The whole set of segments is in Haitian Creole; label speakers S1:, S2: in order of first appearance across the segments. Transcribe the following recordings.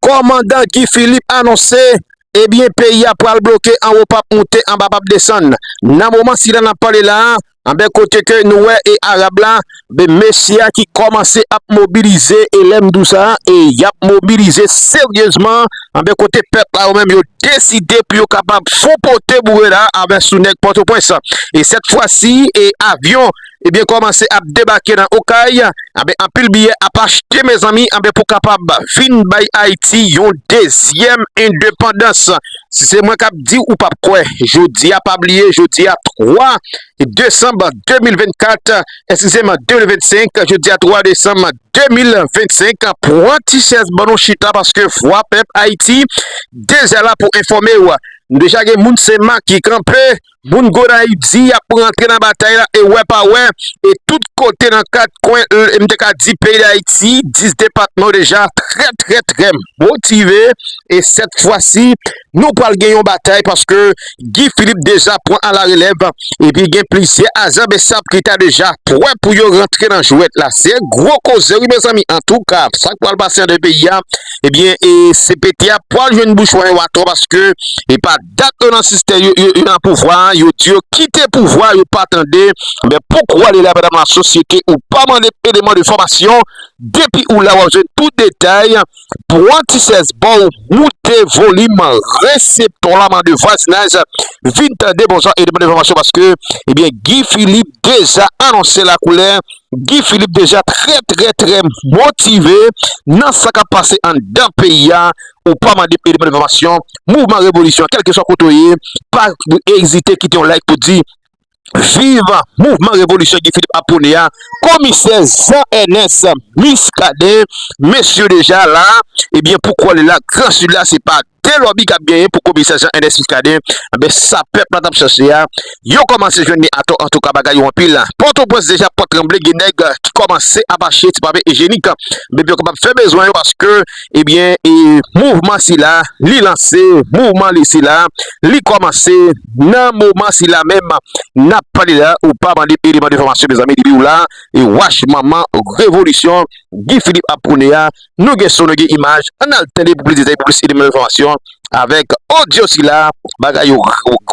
S1: Kòmandan Guy Philippe anonse, ebyen peyi a pral bloke anwo pap moute anba pap desann. Nan moman sila nap pale la, anben kote ke nou wè e Arab la, be mesye a ki kòmanse ap mobilize e lèm di w sa e yap mobilize seryezman, anben kote pèp la yo menm yo deside pou yo kapab fon pote boure la anben sou nèg Pòtoprens. E sèt fwa si e avyon. ebyen kòmanse ap debake nan okay anben anpil biyè ap achte mezanmi anben pou kapab vin bay ayiti yon dezyèm endepandans si se mwen kap diw ou pap kwè jodia pa bliye jodia 3 desanm 2024 esizem 2025 jodia 3 desanm 2025 pwan tichèz ban nou chita paske vwa pèp ayiti deja la pou enfòmew nou deja gen moun se maki kanpe Moun Gonayiv di y ap rantre nan batay la e wè pa wè, e tout kote nan kat kwen l e m te ka di peyi Dayiti, 10 depatman yo deja trè trè trè motive e sèt fwa si nou pral gen yon batay paske Guy Philippe deja pran alarelèv epi gen plizyè ajan bsap ki ta deja pwè pou yo rantre nan jwèt la. Se gwo koze wi mezanmi antouka sa k pral pase an de peyi a ebyen e CPT a pwal jwenn bouchon e watò paske e pa. Dat yo nan sistè yo yo nan pouvwa a yo di yo kite pouvwa yo pa tande men pouki w ale la madam la sosyete ou pa mande eleman de fòmasyon depi ou la wap jwenn tout detay pwan ti sèz ba w moute volim reseptò la mande vwazinaj vin tande bon jan eleman de fòmasyon paske ebyen Guy Philippe deja anonse la koulè Guy Philippe deja trè trè trè motive nan sa kap pase anndan peyi a ou pa mande m ede bann enfòmasyon mouvman revolisyon kèlkeswa kote w ye pa ezite kite yon like pou di viv mouvman revolisyon Guy Philippe ap pwone a komisè Jean Ernest Muscadin mesye deja la ebyen pou kò li la gran sud la se pa de lòbi kap genyen pou komisè Jean Ernest Muscadin ebyen sa pèp la tap chache a yo kòmanse jwenn li atò antouka bagay yo anpil pòtoprens deja pòt tranble gen nèg ki kòmanse ap achte ti pave ejenik ebyen pou yo kapab fè bezwen yo paske. Ebyen e mouvman sila li lanse, mouvman li sila li kòmanse nan moman sila menm nap pale la ou pa mande eleman de fòmasyon mezanmi depiw la e wach manman revolisyon Guy Philippe ap pwone a nou gen son nou gen imaj ann al tande pou plis detay pou plis eleman de fòmasyon avèk odyo sila bagay yo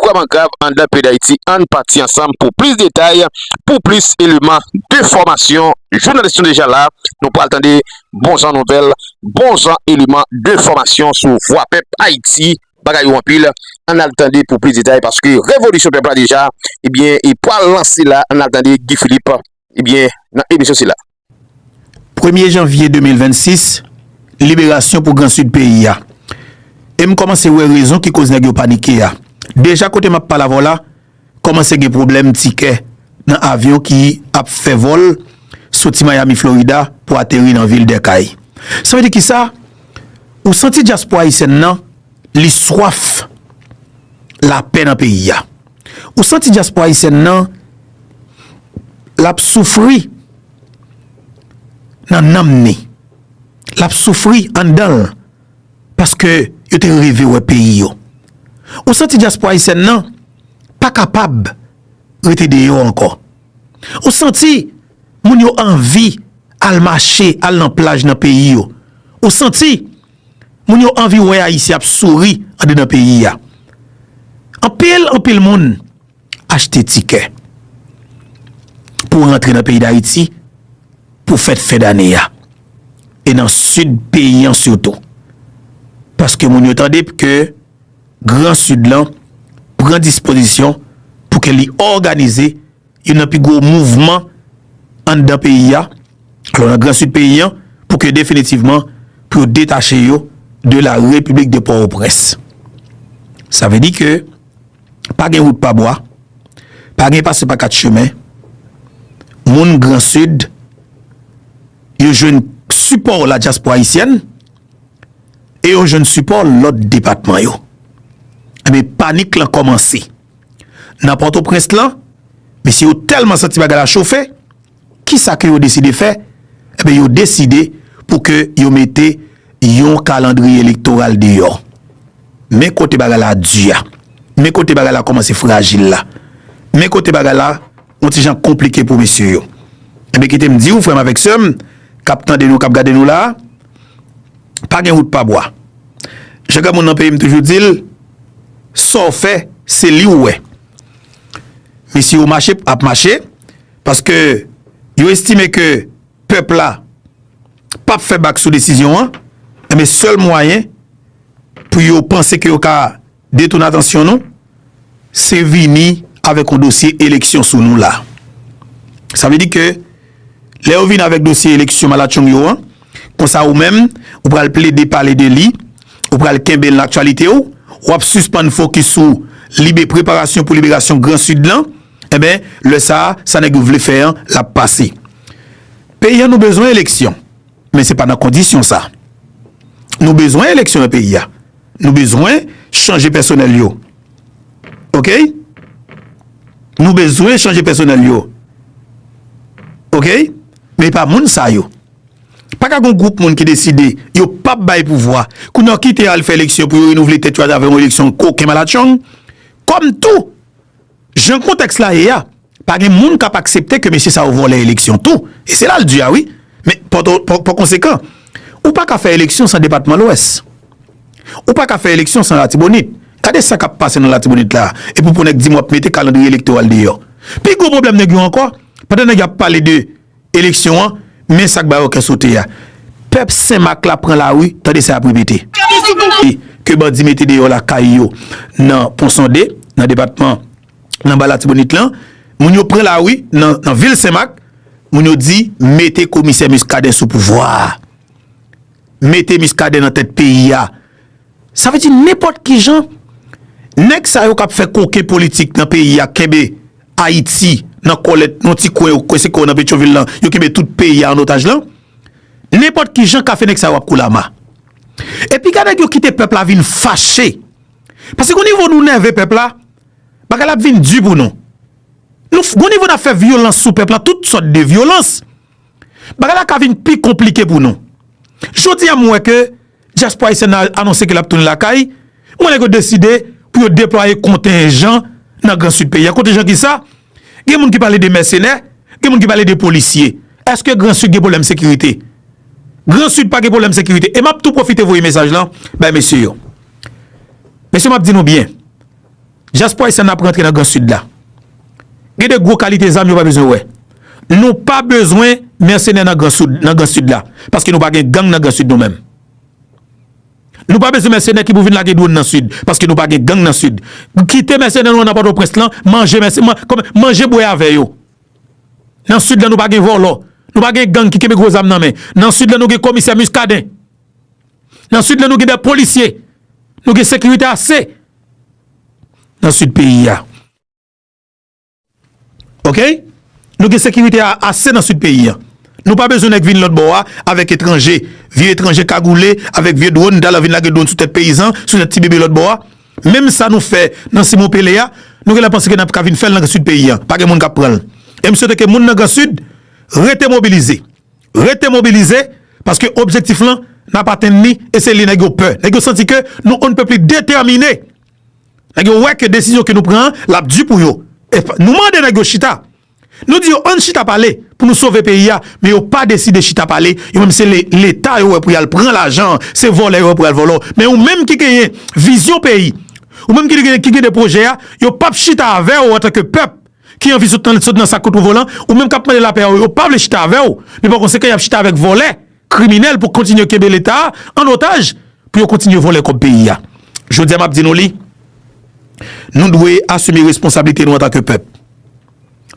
S1: vrèman grav anndan peyi dayiti ann pati ansanm pou plis detay pou plis eleman de fòmasyon jounalis nou deja la nou pral tande. bon jan nouvèl, bon jan eleman de fòmasyon sou vwa pèp Ayiti. Bagay yo anpil, ann al tande pou plis detay paske revolisyon pèp la deja ebyen e pwal lanse la, ann al tande Guy Philippe ebyen nan emisyon sila. Premye
S2: janvye 2026, liberasyon pou gran Sid peyi a. E m kòmanse wè rezon ki koz nèg yo panike a. Deja kote m ap pale avè w la, kòmanse gen pwoblèm tikè nan avyon ki ap fè vòl soti Miami Florida pou ateri nan vil Dèkay. Sa vle di kisa? Ou santi dyaspora ayisyèn nan li swaf lapè nan peyi a. Ou santi dyaspora ayisyèn nan l ap soufri nan nanm ni, l ap soufri anndan l. paske yo te reve wè peyi yo. Ou santi dyaspora ayisyèn nan pa kapab rete deyò ankò. Ou santi moun yo anvi al mache, al nan plaj nan peyi yo. Ou santi moun yo anvi wè Ayisyen ap souri andedan peyi a. Anpil, anpil moun. Achte tikè pou rantre nan peyi Dayiti pou fèt fen dane a e nan Sid peyi an sitou. Paske moun yo tande ke Gran Sid lan pran dispozisyon pou ke li òganize youn nan pi gwo mouvman anndan peyi a, alò nan Gran Sid peyi an, pou ke definitivman pou yo detache yo de la Repiblik de Pòwoprens. Sa vle di ke. Pa gen wout pa bwa, pa gen pase pa kat chemen, moun gran sid yo jwenn sipò la dyaspora ayisyèn e yo jwenn sipò lòt depatman yo. Enben panik lan kòmanse nan pòtoprens lan, mesye yo tèlman santi bagay la chofe, Kisa ke yo deside fè? Enben yo deside pou ke yo mete yon kalandriye elektoral deyò. Men kote bagay la di a. Men kote bagay la kòmanse frajil la. Men kote bagay la yon ti jan konplike pou mesye yo. Enben kite m di ou frè m avèk sè m kap tande nou, kap gade nou la a, pa gen wout pa bwa. Jan granmoun nan peyi m toujou di l, sa w fè se li ou wè. Mesye yo mache ap mache. Paske yo estime ke pèp la pap fè bak sou desizyon an, enben sèl mwayen pou yo panse ke yo ka detoune atansyon nou, se vini avèk yon dosye eleksyon sou nou la. Sa vle di ke lè yo vini avèk dosye eleksyon malatchong yo an, konsa ou menm ou pral plede pale de li, ou pral kenbe l nan aktyalite w, wap sispann fokis sou libe preparasyon pou liberasyon gran Sid lan, Enben, lè sa a, sa nèg yo vle fè an, l ap pase. Peyi an nou bezwen eleksyon, men se pa nan kondisyon sa. Nou bezwen eleksyon nan peyi a. Nou bezwen chanje pèsonèl yo. Okey? Nou bezwen chanje pèsonèl yo. Okey? Men e pa moun sa yo. Pa ka gon gwoup moun ki deside yo p ap bay pouvwa, kounye a yo kite al fè eleksyon pou yo renouvle tèt yo atravè yon eleksyon koken malatchong. Kòm tou! Jan kontèks la ye a, pa gen moun k ap aksepte ke mesye sa yo vòlè eleksyon tou, e se la l di a wi, men pa konsekan, ou pa ka fè eleksyon san depatman Lwès. Ou pa ka fè eleksyon san Latibonit. Gade sa k ap pase nan Latibonit la a, epi pou nèg di m w ap mete kalandriye elektoral deyò. Pi gwo pwoblèm nèg yo ankò, pandan nèg yo ap pale de. eleksyon an men sak ba yo kè sote a pèp senmak la pran lari tande sa yap repete e ke bandi mete deyò lakay yo nan pon sonde nan depatman nan ba latibonit lan moun yo pran lari nan vil senmak moun yo di mete komisè miskaden sou pouvwa mete miskaden nan tèt peyi a. Sa vle di nenpòt ki jan nèg sa yo kap fè koken politik nan peyi a kenbe Ayiti nan kòlèt nan yon ti kwen yo kwè se kwen nan Petyonvil lan yo kenbe tout peyi a an otaj lan nenpòt ki jan kafe nèg sa yo ap koule ama. E pi gade nèg yo kite pèp la vin fache pase gon nivo nou nève pèp la bagay la ap vin di pou nou nou gon nivo nap fè vyolans sou pèp la tout sòt de vyolans bagay la ka vin pi konplike pou nou jodi a m wè ke Dyaspora Ayisyèn nan anonse ke l ap tounen lakay, mwen nèg yo deside pou yo deplwaye kontenjan nan gran Sid peyi a. Kontenjan ki sa? Gen moun ki pale de mèsenè, gen moun ki pale de polisye. Eske gran Sid gen pwoblèm sekirite? Gran Sid pa gen pwoblèm sekirite. E m ap tou pwofite voye mesaj lan bay mesye yo. Mesye m ap di nou byen. Diaspora Haitian ap rantre nan gran sud la. Gen de gwo kalite zam yo pa bezwen wè. Nou pa bezwen mercenaire nan gran soud, nan gran sud la. Paske nou pa gen gang nan gran sud nou menm. Nou pa bezwen mercenaire ki pou vin lage drone nan sud. Paske nou pa gen gang nan sud. Kite mercenaire nou an nan Port-au-Prince lan, manje mercenaire, manje bwè avè yo. Nan sud la nou pa gen volo. Nou pa gen gang ki kenbe gwo zam nan men. Nan sud la nou gen komisè Muscadin. Nan sud la nou gen de polisye. Nou gen sekirite ase. nan sid peyi a. Ok? Nou gen sekirite a ase nan sid peyi a. Nou pa bezwen nèk vin lòt bò a avèk etranje. Vye etranje kagoule avèk vye dwòn dal vin lage dwòn sou tèt peyizan, sou tèt ti bebe lòt bò a. Menm sa nou fè nan Simon Pele a, nou gen lè panse ke n ap ka vin fè l nan sid peyi a. Pa gen moun k ap pran l. E m swete ke moun nan gran sid rete mobilize. Rete mobilize, paske objektif lan, n ap atenn li, e se li nèg yo pè. Nèg yo santi ke nou onnepeupli detèmine. Nèg yo wè ke desizyon ke nou pran an, l ap di pou yo. E nou mande nèg yo chita. Nou di yo ann chita pale pou nou sove peyi a, men yo pa deside chita pale. Yo menm se Leta yo wè pou y al pran lajan an, se vòlè yo wè pou y al vòlò. Men ou menm ki genyen vizyon peyi, ou menm ki genyen de pwojè a, yo p ap chita avè ou antanke pèp. ki anvi sot nan sot nan sak kout ou volan ou menm kap mande lapè yo pa vle chita avèw men pa konsekan yap chita avèk vòlè kriminèl pou kontinye kenbe leta an otaj pou yo kontinye vòlè kòb peyi a jodia map di nou li nou dwe asime responsablite nou antanke pèp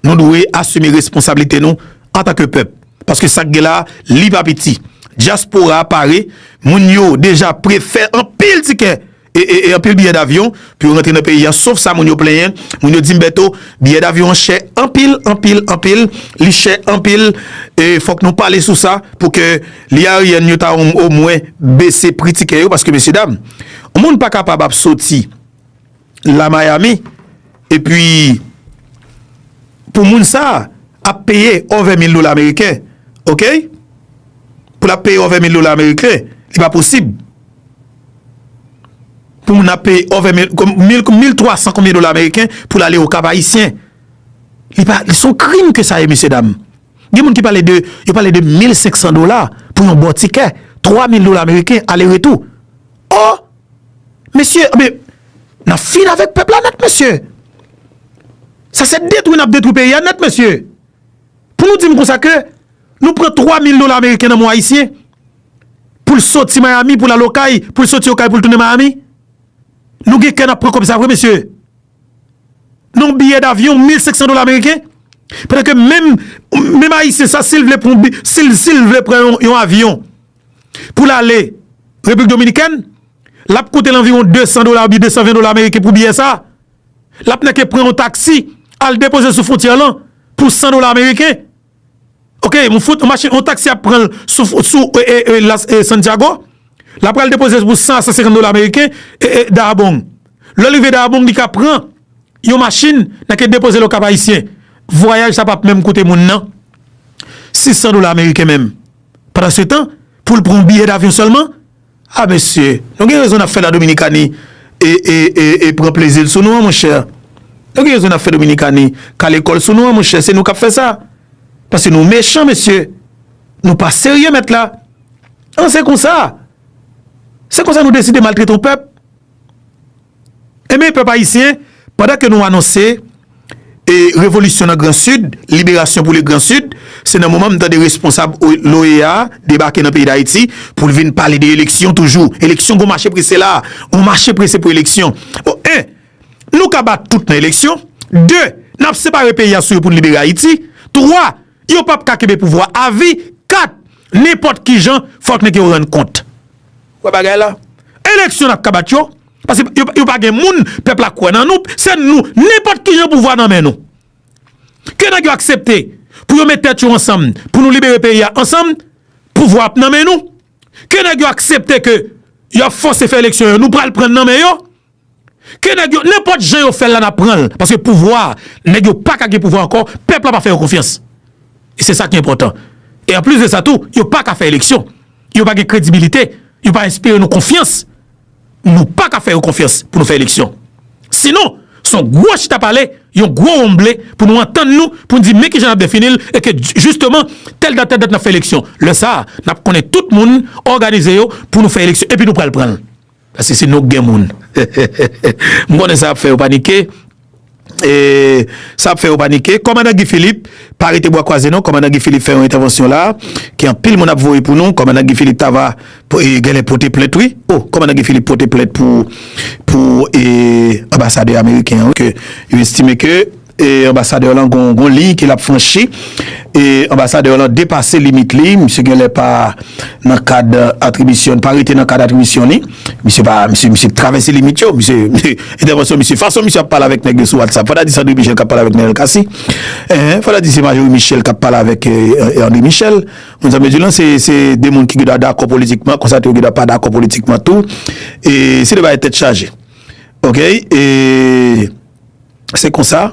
S2: nou dwe asime responsablite nou antanke pèp paske sak gen la li pa piti dyaspora pare moun yo deja pre fè anpil tikè E anpil biyè davyon pou yo rantre nan peyi an sof sa moun yo plenyen, moun yo dim Bèto biyè davyon an chè anpil anpil anpil li chè anpil e fòk nou pale sou sa pou ke li Aryan yo ta o mwen bese pri tikè yo paske mesye dam yon moun pa kapab ap soti la Miami e pi pou moun sa ap peye òvè mil dola ameriken ok pou l ap peye òvè mil dola ameriken li pa posib. pou moun ap peye over mil twa san konbyen dola ameriken pou l ale okap ayisyen li pa li son krim ke sa ye mesye dam gen moun ki pale de yo pale de mil senk san dola pou yon bon tikè twa mil dola ameriken ale retou oh mesye anbe nan fin avèk pèp la nèt mesye sa se detwi nan detwi peyi a nèt mesye pou nou di m konsa ke nou pran twa mil dola ameriken nan mou ayisyen pou l soti Miami pou l al Okay, pou l soti Okay pou l tounen Miami? Nou gen kè n ap pran kòb sa vre mesye? Yon biyè davyon 1500 dola ameriken? Pandan ke menm, menm Ayisyen sa si l vle pran, si l, si l vle pran yon avyon pou l ale Repiblik Dominikèn, l ap koute l anviwon 200 dola oubyen 220 dola ameriken pou biyè sa. L ap nèke pran yon taksi al depoze l sou fwontyè lan pou 100 dola ameriken. Ok yon fout yon machin yon taxi ap pranl sou sou e la santiago lap pral depoze pou 100 a 150 dola ameriken e daabong lèl rive daabong li ka pran yon machin nan ke depozel okap ayisyen vwayaj sa pap menm koute moun nan 600 dola ameriken menm pandan se tan poul pran yon biyè davyon sèlman. Ah mesye, nou gen rezon nap fè la Dominikani e pran plezil sou nou an monchè. Nou gen rezon nap fè Dominikani kale kòl sou nou an monchè, se nou kap fè sa. Paske nou mechan mesye, nou pa serye mèt la. An se konsa, se konsa nou deside maltrete yon pèp. Enben pèp ayisyen, pandan ke nou anonse e revolisyon nan gran sid, liberasyon pou le gran sid, se nan moman m tande responsab l'OEA a debake nan peyi d'Ayiti pou l vin pale de eleksyon toujou. Eleksyon gon mache prese la a, gon mache prese pou eleksyon. Bon, 1, Nou ka bat tout nan eleksyon, 2, Nap separe peyi a sou yo pou n libere Ayiti, 3, Yo pap ka kenbe pouvwa avi 4 nenpòt kijan fòk nèg yo rann kont. Wè bagay la. Eleksyon nap ka bat yo paske yo pa gen moun pèp la kwè nan nou se nou nenpòt kijan pouvwa nan men nou. Ke nèg yo aksepte pou yo met tèt yo ansanm pou nou libere peyi a ansanm pouvwa ap nan men nou ke nèg yo aksepte ke yo ap fòse fè eleksyon yo nou pral prann nan men yo Ke nèg yo nenpòt jan yo fèl la nap pranl paske pouvwa nèg yo paka gen pouvwa ankò pèp la pa fè yo konfyans e se sa ki enpòtan e anplis de sa tou yo paka fè eleksyon yo pa gen kredibilite yo pa enspire nou konfyans nou paka fè yo konfyans pou nou fè eleksyon sinon son gwo chita pale yon gwo wonmble pou nou antann nou pou nou di men kijan nap definil e ke jisteman tèl dat tèl dat nap fè eleksyon lè sa nap konnen tout moun òganize yo pou nou fè eleksyon epi nou pral pranl. Paske se nou k gen moun. M konnen sa ap fè yo panike. Sa ap fè yo panike. Kòmandan Guy Philippe, pa rete bwa kwaze non. Kòmandan Guy Philippe fè yon entèvansyon la a, ke anpil moun ap voye pou nou. Kòmandan Guy Philippe ta va genlè pote plent wi. O! Kòmandan Guy Philippe pote plent pou anbasadè ameriken an wi. Ke yo estime ke E anbasadè lan gon liy ke lap franchi e anbasadè lan depase limit li misye genlè pa nan kad atribisyon li pa rete nan kad atribisyon li misye pa misye travèse limit yo misye entèvansyon misye fason misye ap pale avèk nèg yo sou whatsapp fò ta di se andre michel kap pale avèk nènèl kasi enhen fò ta di se majori michel kap pale avèk andre michel moun sa mezillan se se de moun ki gidwa dakò politikman konsa tou yo gidwa pa dakò politikman tou e se de bagay tèt chaje ok e. se konsa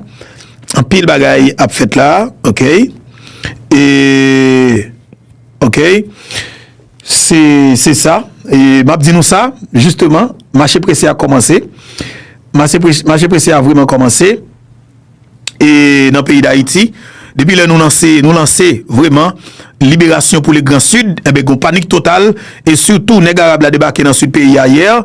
S2: anpil bagay ap fèt la ok e ok se se sa e map di nou sa jisteman mache prese a kòmanse mase prese mache prese a vreman kòmanse e nan peyi dayiti depi lè nou lanse nou lanse vreman liberasyon pou le gran sid ebe gon panik total e sitou nèg arab la debake nan sid peyi a yè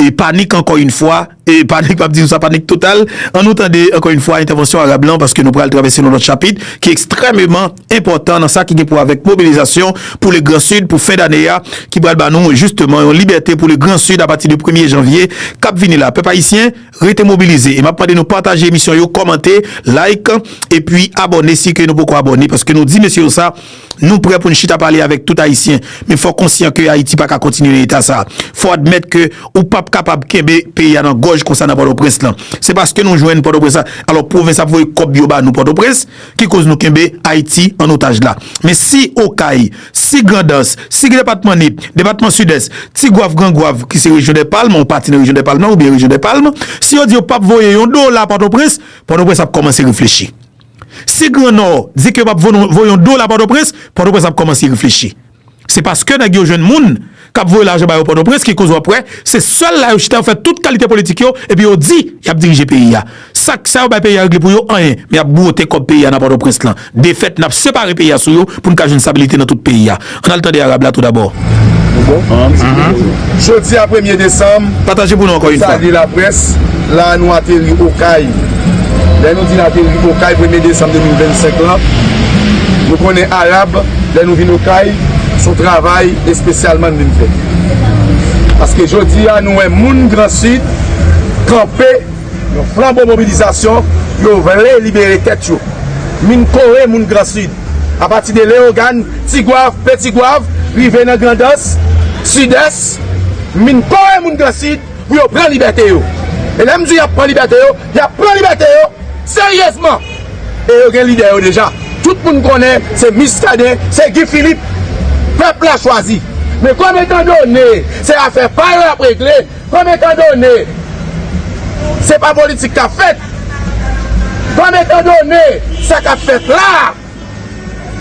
S2: e panik ankò yn fwa. E panik pap di nou sa panik total. An nou tande ankò yn fwa entèvansyon Arab lan paske nou pral travèse yon lòt chapit ki ekstrèmeman enpòtan nan sa ki gen pou wè avèk mobilizasyon pou le gran Sid pou fen dane a ki pral ba nou jisteman yon libète pou le gran Sid apati de premye janvye kap vini la. Pèp Ayisyen rete mobilize e map mande nou pataje emisyon yo kòmante, like epi abòne si ke nou poko abòne paske nou di mesye yo sa. Nou prè pou n chita pale avèk tout Ayisyen, men fò w konsyan ke Ayiti pa ka kontinye nan eta sa a. Fò w admèt ke ou p ap kapab kenbe peyi a nan gòj konsa nan Pòtoprens lan. Se paske nou jwenn Pòtoprens la, alò pwovens ap voye kòb yo ba nou Pòtoprens, ki koz nou kenbe Ayiti an otaj la. Men si Okay, si Grandans, si depatman Nip, depatman Sidès, Ti Gwaf, Gran Gwaf, ki se rejyon dè palm, yon pati nan rejyon dè palm lan, oubyen rejyon dè palm, si yo di yo p ap voye yon dola Pòtoprens, Pòtoprens ap kòmanse reflechi. Si gran nò di ke yo pap voye yon dola pòtoprens, pòtoprens ap kòmanse reflechi. Se paske nèg yo jwenn moun kap voye lajan ba yo pòtoprens ki koz wap wè se sèl la yo chita yo fè tout kalite politik yo epi yo di yap dirije peyi a. Sak sa yo bay peyi a regle pou yo anyen men yap bwote kòb peyi a nan pòtoprens lan. Defèt nap separe peyi a sou yo poun ka jwenn stabilite nan tout peyi a. An al tande Arab la tou dabò.
S3: Jodi a premye desanm, nou
S2: salye laprès,
S3: la a nou ateri Okay. Lè nou di n ateri Okay premye desanm 2025 lan, nou konnen Arab lè nou vin Okay, s on travay espesyalman n vin fè. Paske jodi a nou wè moun gran Sid kanpe yon flanbo mobilizasyon, yo vle libere tèt yo. Min kore moun gran Sid. Apati de Leyogàn, Tigwav, Petigwav, rive nan Grandans, Sidès, m vin kore moun Gransid pou yo pran libète yo. E lè m di y ap pran libète yo, y ap pran libète yo seryezman! E yo gen lidè yo deja. Tout moun konnen se Miskaden, se Gi Filip pèp la chwazi. Men kòm etandone se afè pa yo y ap regle, Kòm etan done se pa politik k ap fèt, kòm etan done sa k ap fèt la a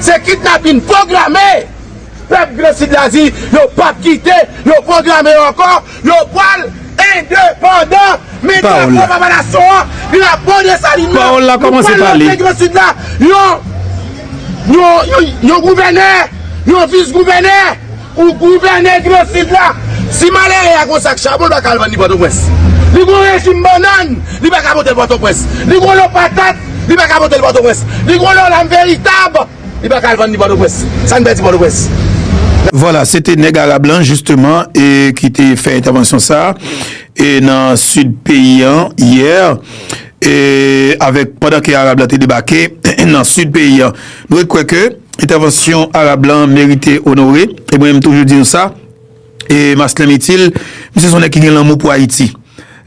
S3: se kidnapin pwograme, pèp Gransid la di yo p ap kite yo pwograme yo ankò, yo pral endepandan. Men drapo Papa Nasyon
S2: an,
S3: drapo Desalin nan, nou pral montre
S2: Gransid la
S3: yon gouvènè, yon vis gouvènè, Ou gouvène gran sid la. Si malere a gon sak chabon l pa ka al vann li Pòtoprens. Li gon rejim bannann, li pa ka pote l Pòtoprens. Li gon lo patat, li pa ka pote l Pòtoprens. Li gon lo lam veritab, li pa ka al vann li Pòtoprens. Sa n pèdi Pòtoprens? Vwala,
S2: se te nèg arab lan jisteman e ki te fè entèvansyon sa a e nan sid peyi an yè. E avèk pandan ke Arab la te debake nan Sid peyi an. Nou ret kwè ke entèvansyon Arab lan merite onore. E mwen menm toujou di nou sa. E Maslèm Itil, misye son nèg ki gen lanmou pou Ayiti.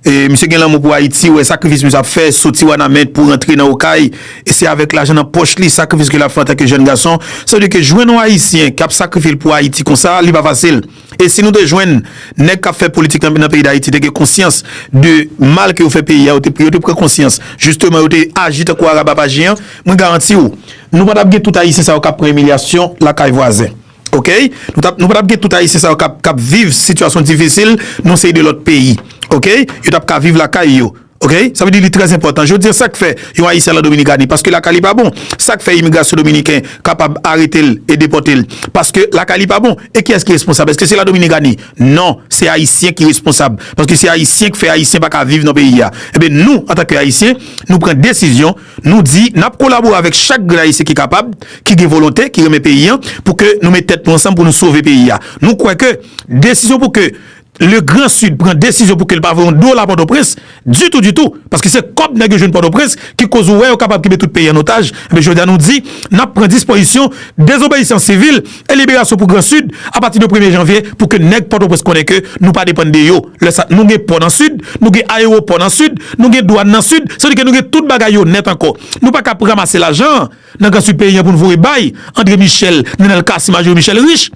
S2: E misye gen lanmou pou Ayiti, ou wè sakrifis misye ap fè, soti Wanament pou rantre nan Okay. E se avèk lajan nan pòch li, sakrifis ke l ap fè antanke jèn gason. Sa vle di ke jwenn yon Ayisyen k ap sakrifye l pou Ayiti konsa, li pa fasil. E si nou te jwenn nèg kap fè politik nan peyi dayiti te gen konsyans de mal ke yo fè peyi a yo te pou yo te pran konsyans jisteman yo te aji tankou arab ap aji an mwen garanti ou nou patap gen tout ayisyen sa yo kap pran imilyasyon lakay vwazen ok nou tap nou patap gen tout ayisyen sa yo kap kap viv sitiyasyon difisil nan seri de lòt peyi ok yo tap ka viv lakay yo. Ok sa vle di li trè enpòtan jodi an sak fè yon ayisyen al an dominikani paske lakay li pa bon sak fè imigrasyon dominiken kapab arete l e depòte l paske lakay li pa bon e kiyès ki responsab eske se la dominikani non se ayisyen ki responsab paske se ayisyen k fè ayisyen pa ka viv nan peyi a enben nou antanke ayisyen nou pran desizyon nou di n ap kolabore avèk chak grenn ayisyen ki kapab ki gen volonte ki renmen peyi an pou ke nou met tèt nou ansanm pou nou sove peyi a nou kwè ke desizyon pou ke Le grand sud pran desizyon pou ke l pa voye yon dola Pòtoprens ditou ditou paske se kòb nèg yo jwenn Pòtoprens ki koz ou wè yo kapab kenbe tout peyi an otaj enben jodi a nou di n ap pran dispoizisyon dezobeyisans sivil e liberasyon pou gran sud a pati de premye janvye pou ke nèg Pòtoprens konnen ke nou pa depann de yo lè sa nou gen pò nan sud nou gen ayewopò nan sud nou gen dwàn nan sud sa vle di ke nou gen tout bagay yo nèt ankò nou pa ka pranmase lajan nan gran sud peyi an pou n voye bay Andre Michel Nenel Cassy Majorie Michel Riche.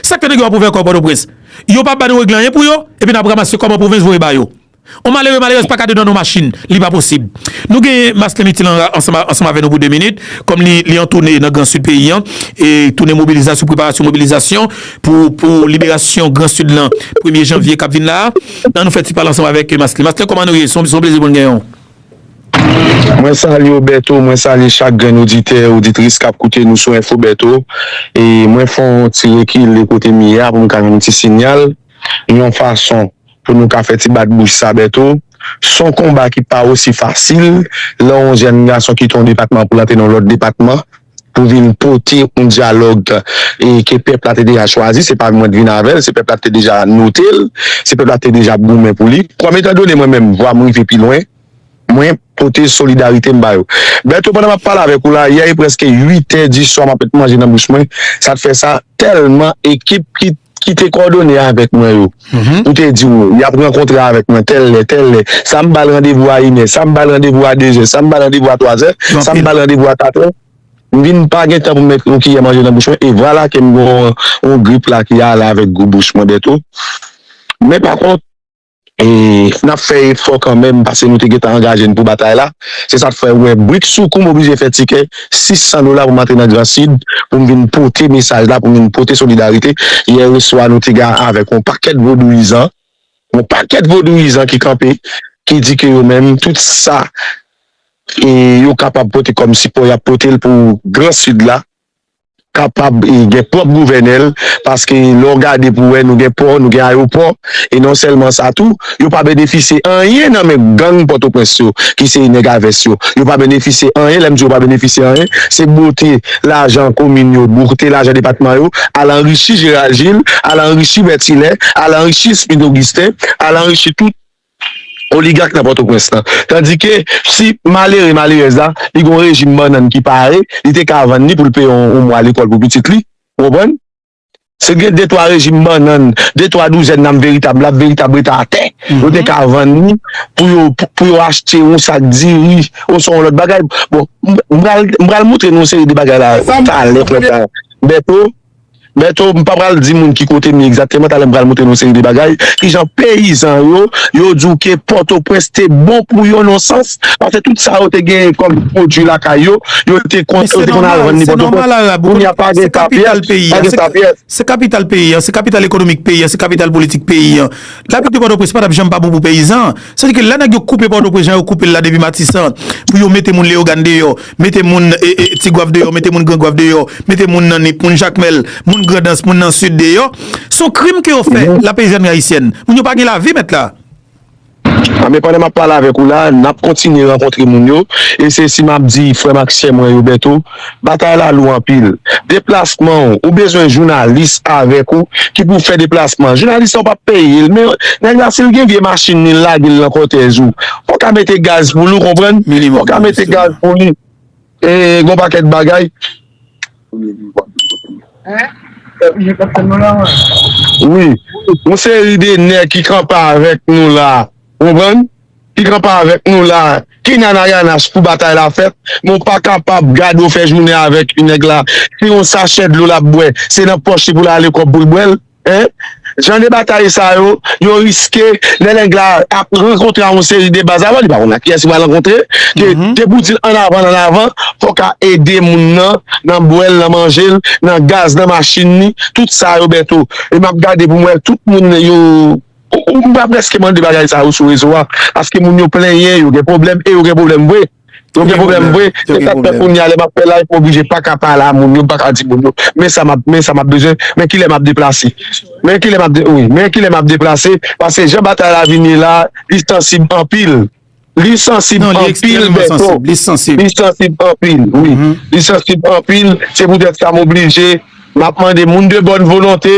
S2: Sak fè nèg yo ap ouvè kò pòtoprens? Yo pa bannou regle anyen pou yo, epi nap ramase kòb an pwovens voye ba yo. On malere, malerèz paka dedan on machin, li pa posib. Nou gen Masten Mitin an ansanm avè nou pou 2 minit, kòm li an toune nan gran sid peyi an, e toune mobilizasyon, preparasyon mobilizasyon pou liberasyon gran sid lan premye janvye kap vin la a. An nou fè ti pale ansanm avèk Masten. Masten kòman nou ye? Son plezi pou n gen w.
S4: Mwen salye w Bertho, mwen salye chak grenn oditè, oditris kap koute nou sou Info Bertho e mwen fè yon ti rekile kote m ye a pou m ka jwenn yon ti sinyal yon fason pou nou ka fè ti bat bouch sa Bertho s on konba ki pa osi fasil lè yon jèn gason kite yon depatman pou l antre nan yon lòt depatman. pou vin pote yon dyalòg ke pèp la te deja chwazi, se pa mwen k vin avè l, se pèp la te deja note l, se pèp la te deja ap goumen pou li, kòm etan done mwen menm vwa m rive pi lwen, mwen pote solidarite m ba yo. Bertho, pandan m ap pale avèk ou la, yè e prèske 8 è di swa m ap met manje nan bouch mwen, sa t fè sa? tèlman ekip ki te kòdone avèk mwen yo, pou te di ou, y ap rankontre avèk mwen tèl lè, tèl lè, sa m ba l randevou a inè, sa m ba l randevou a dezè, sa m ba l randevou a twazè, sa m ba l randevou a katrè, m vin pa gen tan pou m met yon kiyè manje nan bouch mwen, e vwala ke m gen yon grip la ki ale avèk gou bouch mwen bèto. Men pa kont. E nap fè efò kanmenm pase nou te gentan angaje n pou batay la. Se sa k fè ou wè bridsoukou m oblije fè tikè 600 dola pou m antre nan Gran Sid pou m vin pote mesaj la, pou m vin pote solidarite. Yèreswa nou te gen avèk yon pakèt vodouyizan, yon pakèt vodouyizan ki kanpe, ki di ke yo menm tout sa yo kapab pote kòm sipò y ap pote l pou Gran Sid la. kapab gen pwòp gouvènè l, paske lè w gade pou wè nou gen pò, nou gen ayopò, e non sèlman sa tou, yo pa benefisye anyen nan men gang Pòtoprens yo ki se nèg a vès yo, yo pa benefisye anyen, lè m di yo pa benefisye anyen, se bwote lajan komin yo, bwote lajan depatman yo, al anrichi Gérald Gilles, al anrichi Berthilet, al anrichi Smith Augustin, al anrichi tout. Oligak nan Pòtoprens lan. Tandike, si malere, malerèz la, li gen yon rejim bannann ki pare, li te ka vann li pou l peye yon mwa lekòl pou pitit li. Ou konprann? Se gen de twa rejim bannann, de twa douzèn nanm veritab lab, veritab rete atè, yo te ka vann li pou yo pou yo achte yon sak diri oswa yon lòt bagay. Bon, m pral m pral montre nou yon seri de bagay la talè, Bertho. Bertho, m pa pral di moun ki kote m ye egzakteman, talè m pral montre nou yon seri de bagay, kijan peyizan yo, yo di w ke Pòtoprens te bon pou yo nan yon sans, paske tout sa yo te genyen kòm pwodui lakay yo, yo te konn yo te konn al vann li Pòtoprens, kounye a pa gen papyès, pa gen papyès. Se kapital
S2: peyi an, se kapital ekonomik peyi an, se kapital politik peyi an. Lavil de Pòtoprens pa t ap janm pa bon pou peyizan. Sa vle di ke lè nèg yo koupe Pòtoprens jan yo koupe l la depi Matisan, pou yo mete moun Leyogàn deyò, Mete moun Tigwav deyò, mete moun Grangwav deyò, mete moun nan Nip, moun Jakmèl, moun Grandans, moun nan Sid deyò, s on krim ke yo fè la peyizanri ayisyèn. Moun yo pa gen lavi mèt la. A
S4: men pandan m ap pale avèk ou la, n ap kontinye rankontre moun yo, e se si m ap di frè m ak sè mwen yo Bèto, batay la lou anpil. Deplasman w, ou bezwen jounalis avèk ou ki pou fè deplasman. Jounalis sa ou p ap peye l men nèg la si l gen vye machin li l lage l nan kòtèj ou, Ou ka mete gaz pou li ou konprann, ou ka mete gaz pou li e gon pakèt bagay. Wi, yon seri de nèg ki kanpe avèk nou la, ou konprann, ki kanpe avèk nou la, ki nan Narayanach pou batay la fèt, men ou pa kapab gade ou fè jounen avèk yon nèg la, se yon sachè dlo l ap bwè, se nan pòch li pou l ale kòb pou l bwè l. Hein? Jan de batay sa yo, yo riske lè nèg la ap rankontre a yon seri de baz avan, li pa konn ak kiyès li pral rankontre, ke de pou dil an avan an avan, fòk a ede moun nan, nan bwè l, nan manje l, nan gaz, nan machin li, tout sa yo Bertho. E m ap gade pou m wè tout moun yo, ou m pa prèske mande bagay sa yo sou rezo a, paske moun yo plenyen, yo gen pwoblèm e yo gen pwoblèm vre. Yo gen problem vre, se sak fè kounya lè map fè live m oblije paka pale a moun yo, m paka di moun yo men sa map men sa map bezwen, men kilè map deplase men kilè map wi men kilè map deplase paske jan batay la vin ye la li sansib anpil li sansib anpil Bertho li sansib anpil wi li sansib anpil se poutèt sa m oblije map mande moun de bòn volonte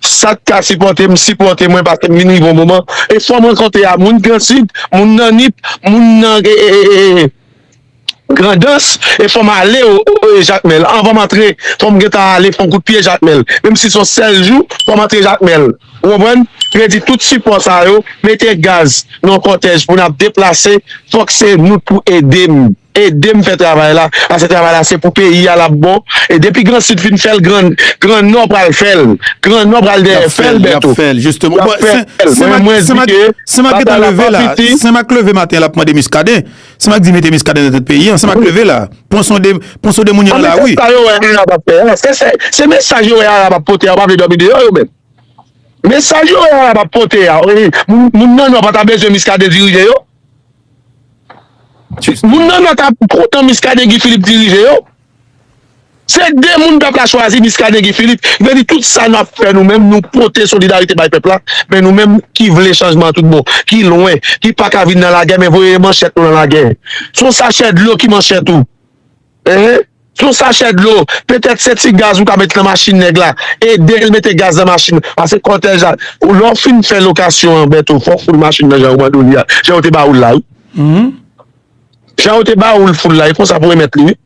S4: Sak ka sipòtem sipòte mwen paske m vin rive yon moman e fòm rankontre a moun grand sud moun nan nip moun nan grandans e fòm ale jakmèl anvan m antre fòm gentan ale fon kout pye jakmèl menm si son sèl jou fòm antre jakmèl ou konprann kredi tout sipò sa yo mete gaz nan kòtèj pou nap deplase fòk se nou k pou edem. Edem fè travay la pase travay la se pou peyi a lap bon e depi gran sid fin fèl gran gran nò pral fèl gran nò pral dèyè fèl bèto yap
S2: fèl mwen mwen di ke batay la pa fiti senmak leve maten lap mande miskaden senmak di mete miskaden nan tèt peyi an senmak leve la pwan sonde pwan sonde moun yo nan lari eske sa yo wè arab ap fè a eske
S4: se mesaj yo wè arab ap pote a yo pa vle dòmi deyò yo menm mesaj yo wè arab ap pote a moun nan nò pata bezwen miskaden dirije yo. Moun nan nan tap kontan miskaden Guy Philippe dirije yo se 2 moun pèp la chwazi miskaden Guy Philippe vle di tout sa nap fè nou menm nou pote solidarite bay pèp la men nou menm ki vle chanjman an tout bon ki lwen ki paka vin nan lagè men voye manchèt nou nan lagè son sachè dlo ki manchèt ou Ehe yon sachè dlo petèt se ti gaz ou ka met nan machin nèg la edel mete gaz nan machin pase kòtèj la lè ou fin fè lokasyon an Bertho fòw foul machin nan jan yo mande w li a jan yo te ba ou l la wi jan yo te ba ou l foul la e konsa pou remèt li wi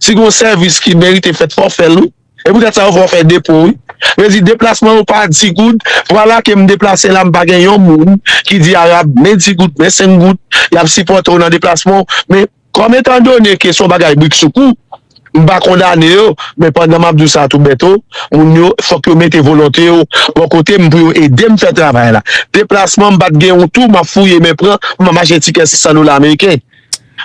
S4: si gon sèvis ki merite fèt fòw fè l wi e poutèt sa yo fè w fè depo wi vle di deplasman yo pa di goud vwala ke m deplase la m pa gen yon moun ki di Arab men di goud men senk goud y ap sipòte w nan deplasman w men. Kòm etan done ke son bagay brik sou kou, m pa kondane yo, men pandan m ap di w sa tou Bèto, moun yo fòk yo mete volonte yo bò kote m pou yo ede m fè travay la. Deplasman m pa t gen yon tou m ap fouye men pran pou m ap achte tikè 600 dola ameriken.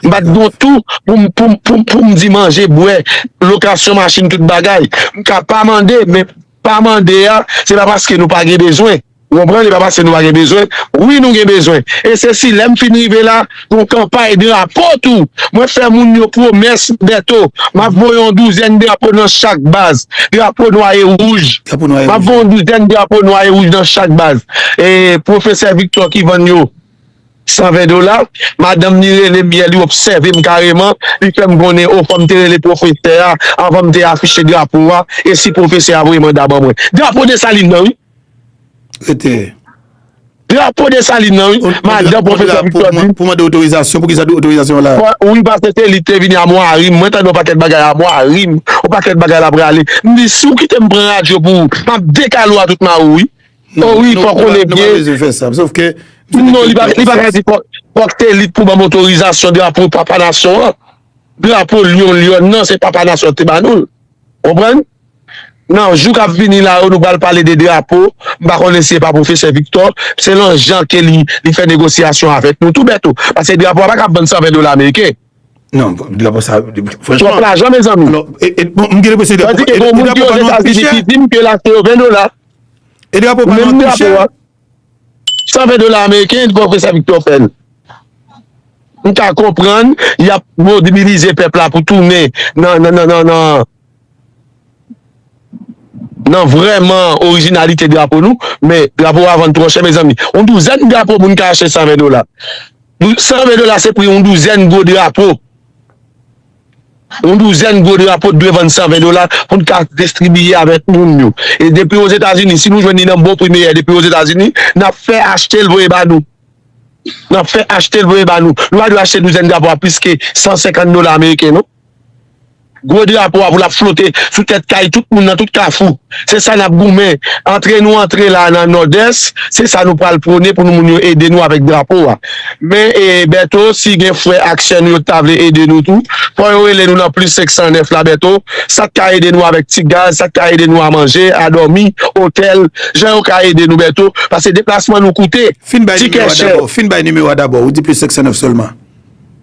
S4: M pa t gen yon tou pou m pou m pou m pou m di manje, bwè, lokasyon machin tout bagay. M ka pa mande men pa mande a se pa paske nou pa gen bezwen. Ou konprann e pa paske nou pa gen bezwen, wi nou gen bezwen. E se si lè m fin rive la, yon kanpay drapo tou. Mwen fè moun yo pwomès Bèto, m ap voye yon douzèn drapo nan chak baz, drapo nwa e wouj. M ap voye yon douzèn drapo nwa e wouj nan chak baz. E pwofesè Viktò ki vann yo 120 dola, madanm li rele m yè, li obsève m kareman, li fè m konnen o fò m te rele pwofesè a avan m te afiche drapo a e si pwofesè a voye manda ban mwen. Drapo Desalin nan wi! Rete. Drapo Desalin nan wi, madan pwofesè Viktò di. Pou mande otorizasyon,
S2: pou ki sa di otorizasyon la? Wi paske se li ki
S4: te vini amwa a rim, mwen tande yon pakèt bagay amwa a rim, yon pakèt bagay l ap rale. M di si w kite m pran radyo pou ou, m ap dekale w a tout ma ou wi. O wi fòk ou konnen byen. Nou pa bezwen fè sa, sof ke.
S2: Non li pa
S4: ka di fòk se li k pou ban m otorizasyon drapo papa nasyon an, drapo lyon lyòn nan se papa nasyon an ki te ba nou l. Konprann? Nan jou k ap vini la yo, nou pral pale de drapo. M pa konnen si e pa pwofesè Viktò, se lan jan ke li fè negosyasyon avèk nou tou bèt tou. Paske drapo a pa kab vann 120 dola ameriken. Non,
S2: drapo sa, franchman. Twòp lajan
S4: mezanmi. Alò, e, bon, m gen
S2: lenpresyon drapo. Tandis ke gen moun ki yo
S4: Etazini ki di m ke l achte yo 20 dola. E drapo
S2: pa vann pi chè. 120
S4: dola ameriken pwofesè Viktò fè l. M ka konprann y ap mobilize pèp la pou tounen nan, nan, nan, nan, nan. Nan vrèman orijinalite drapo nou men drapo a vann twò chè mezanmi yon douzèn drapo moun ka achte 120 dola 120 dola se pri yon douzèn gwo drapo yon douzèn gwo drapo t dwe vann 120 dola pou n ka distribiye avèk moun yo e depi ozetazini si nou jwenn li nan bon pri meyè depi ozetazini n ap fè achte l voye ba nou n ap fè achte l voye ba nou nou pa dwe achte douzèn drapo a plis ke 150 dola ameriken non. Gwo drapo a pou lap flote sou tèt kay tout moun nan tout kafou. Se sa nap goumen. Antre nou antre la nan Nòdès, se sa nou pral pwone pou moun yo ede nou avèk drapo a. Men Bèto, si gen frè ak sè nou yo ki ta vle ede nou tou, fò yo rele nou nan plis 509 la Bèto, sak ka ede nou avèk ti gaz, sak ka ede nou a manje, a dòmi, otèl, jan yo ka ede nou Bèto, paske deplasman nou koute, tikè chè.
S2: Fin bay nimewo a dabò, ou di plis 509 sèlman.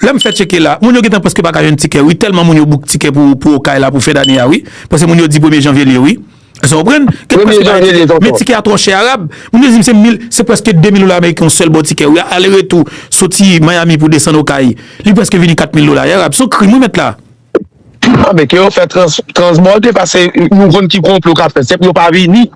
S2: Lèm fè tcheke la, moun yo gentan preske paka jwenn tikè wi, tèlman moun yo book tikè pou pou okay la pou fen dane a wi, paske moun yo di premye janvye liye wi. Èske ou konprann? Premye janvye liye tonton. Men tikè a twò chè Arab, moun yo dim se mil, se preske 2000 dola ameriken yon sèl bon tikè wi, ale retou soti Miami pou desann okay, li preske vini 4000 dola wi Arab, son krim wi mèt la. Anben
S4: ke yo fè transbòde pase nou konn ki konplo kap fèt se pou yo pa vini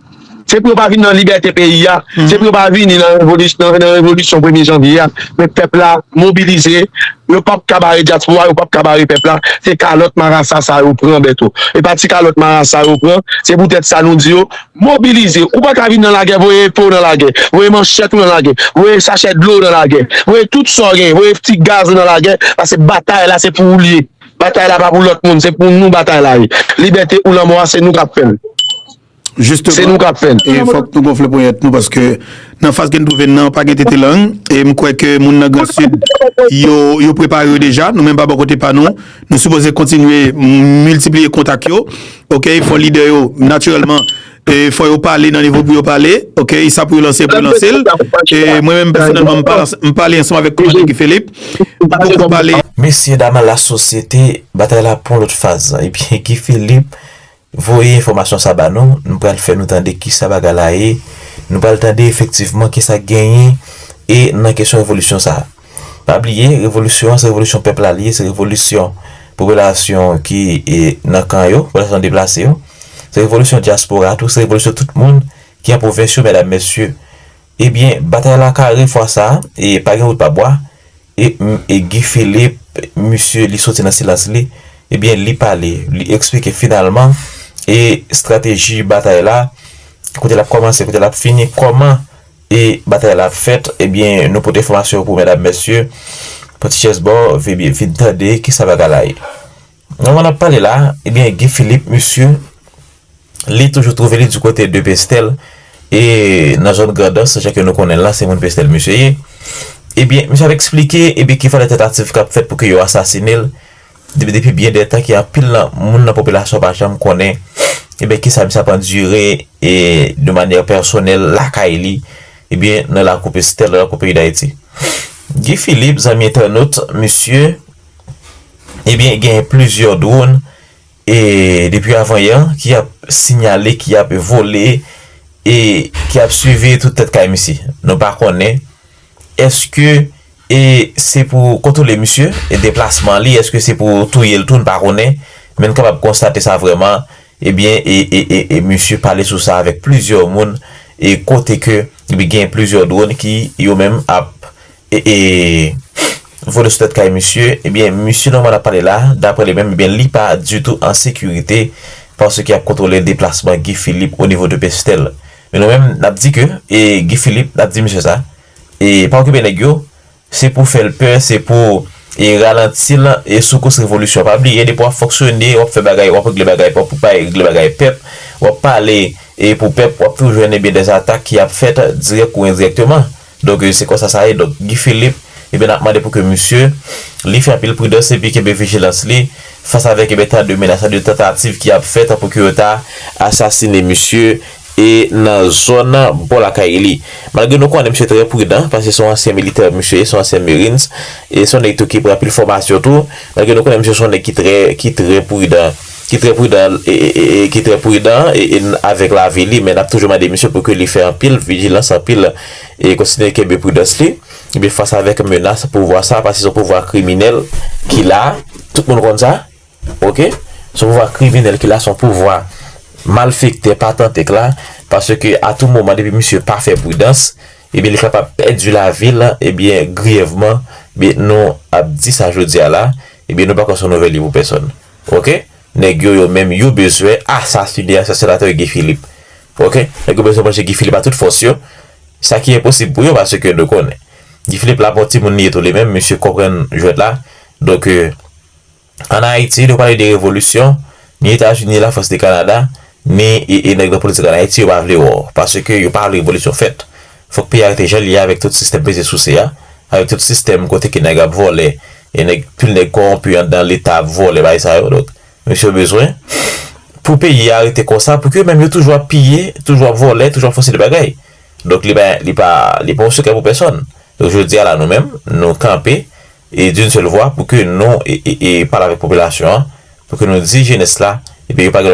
S4: se pou yo pa vini nan libète peyi a se pou yo pa vini nan revolisyon premye janvye a men pèp la mobilize yo pap ka bare dyaspora yo pap ka bare pèp la se kalòt marasa sa yo pran bèto e pa ti kalòt marasa yo pran se pou tèt sa nou di yo Mobilize, ou pa ka vin nan lagè voye epe w nan lagè, voye manchèt ou nan lagè, voye sachè dlo w nan lagè, voye tout sa w genyen, voye ti gaz ou nan lagè, pase batay la se pou ou l ye, batay la pa pou lòt moun, se pou nou batay la ye, libète ou lanmò a se nou k ap fè l.
S2: Se nou k ap fè l. Jisteman,
S4: e fòk nou gonfle
S2: ponyèt nou paske nan faz ke n twouve n nan pa gen tete lang e m kwè ke moun nan Gran Sid yo prepare yo deja, nou menm pa bò kote pa nou. Nou sipoze kontinye miltipliye kontak yo, ok, fò lidè yo natirèlman, fò yo pale nan nivo pou yo pale, ok, sa pou yo lanse pou yo lanse l, e mwen menm pèsonèlman m pale ansanm avèk Komandè Guy Philippe, m poko pale. Mesye dam la
S5: sosyete, batay la pran lòt faz, ebyen Guy Philippe Voye enfòmasyon sa ba nou, nou pral fè nou tande kisa bagay la ye, nou pral tande efektivman kisa k genyen e nan kesyon revolisyon sa. Pa bliye, revolisyon an se revolisyon pèp la li ye, se revolisyon popilasyon ki nan kan yo, popilasyon deplase yo, se revolisyon dyaspora a tou, se revolisyon tout moun ki an pwovens yo medam mesye. Ebyen batay la kare fwa sa e pa gen wout pa bwa. E Guy Philippe, misye li soti nan silans li, ebyen li pale, li eksplike finalman e strateji batay la, kote l ap kòmanse, kote l ap fini, kòman e batay la ap fèt, ebyen nou pote enfòmasyon pou medam mesye, pran ti chèz ba w, vin tande kisa bagay la ye. Nan moman nap pale la, ebyen Guy Philippe misye li toujou twouve li di kote de Pestel e nan zòn Grandans jan ke nou konnen la se moun Pestel misye ye. Ebyen misye ap eksplike ebyen ke fò de tantativ kap fèt pou ke yo asasine l depi byen de tan ke anpil nan moun nan popilasyon pa janm konnen ebyen kisa misye ap andire e de manyè pèsonèl lakay li ebyen nan lakou Pestel nan lakou peyi Dayiti. Guy Philippe zanmi entènot misye. Ebyen gen plizyè dwon e depi avan yè ki ap sinyale ki ap vole e ki ap swivi tout tèt kay misye. Nou pa konnen eske e se pou kontwole misye e deplasman li eske se pou touye l tou n pa konnen men n kapab konstate sa vreman ebyen e e misye pale sou sa avèk plizyè moun e kote ke gen plizyè dwon ki yo menm ap E vole sou tèt kay misye, ebyen misye Norman ap pale la, daprè li menm ebyen li pa ditou an sekirite paske yap kontwole deplasman Guy Philippe o nivo de Pestel. Men nou menm nap di ke e Guy Philippe nap di misye sa, e pa okipe nèg yo, se pou fèl pè, se pou e ralantil e soukous revolisyon. Pa bliye depi wap fonksyone, wap fè bagay, wap regle bagay pou pa regle bagay pèp, wap pale e pou pèp wap toujou jwenn ebyen dè atak ki ap fèt dirèk ou endirèkteman. Donk se konsa sa ye donk Guy Philippe ebyen nap mande pou ke misye li fè anpil pridans epi kenbe vijilans li fas avèk ebyen tan de menas tan de tantativ ki ap fèt pou ke yo ta asasine misye e nan zòn bò lakay li malgre nou konnen misye trè pridan paske son ansyen militè misye ye son ansyen merines e son nèg tou ki pran anpil fòmasyon tou malgre nou konnen misye son nèg ki trè ki trè pridan. ki trè pridan e ki trè pridan e n avèk lavi li men n ap toujou mande misye pou ke li fè anpil vijilans anpil e kontinye kenbe pridans li ebyen fas avèk menas pouvwa sa paske se yon pouvwa kriminèl ki la tout moun konn sa ok se yon pouvwa kriminèl ki la se yon pouvwa malfektè patantèk la paske a tou moman depi misye pa fè pridans ebyen li kapab pèdi lavi l ebyen griyèvman ebyen nou ap di sa jodi a la ebyen nou pa kwè se yon nouvèl li pou pèsòn. Ok neg yo yo menm yo bezwen asasine ansyen senatè Guy Philippe ok neg yo bezwen manje Guy Philippe a tout fos yo sa ki enposib pou yo paske nou konnen Guy Philippe la bon timoun li ye tou li menm misye konprann jwet la donk an Haiti nou pale de revolisyon ni Etats Unis la France ni Canada Ni e nèg nan politik an Ayiti yo pa vle wè w. Paske yo pa vle revolisyon fèt. Fòk peyi a rete jan l ye a avèk tout sistèm peze souse a, avèk tout sistèm kote ke nèg ap vòlè, e nèg, pil nèg kowonpi anndan leta ap vòlè bagay sa yo. Donk, mesye yo bezwen pou peyi a rete konsa pou ke menm yo toujou ap piye, toujou ap vòlè, toujou ap fè yon seri de bagay. Donk li pa, li pa, li pa yon sekrè pou pèsòn. Donk jodi a la nou menm, nou kanpe e d'une seule voix pou ke nou e e e pale avèk popilasyon an, pou ke nou di jenès la e byen yo pa gen lòt.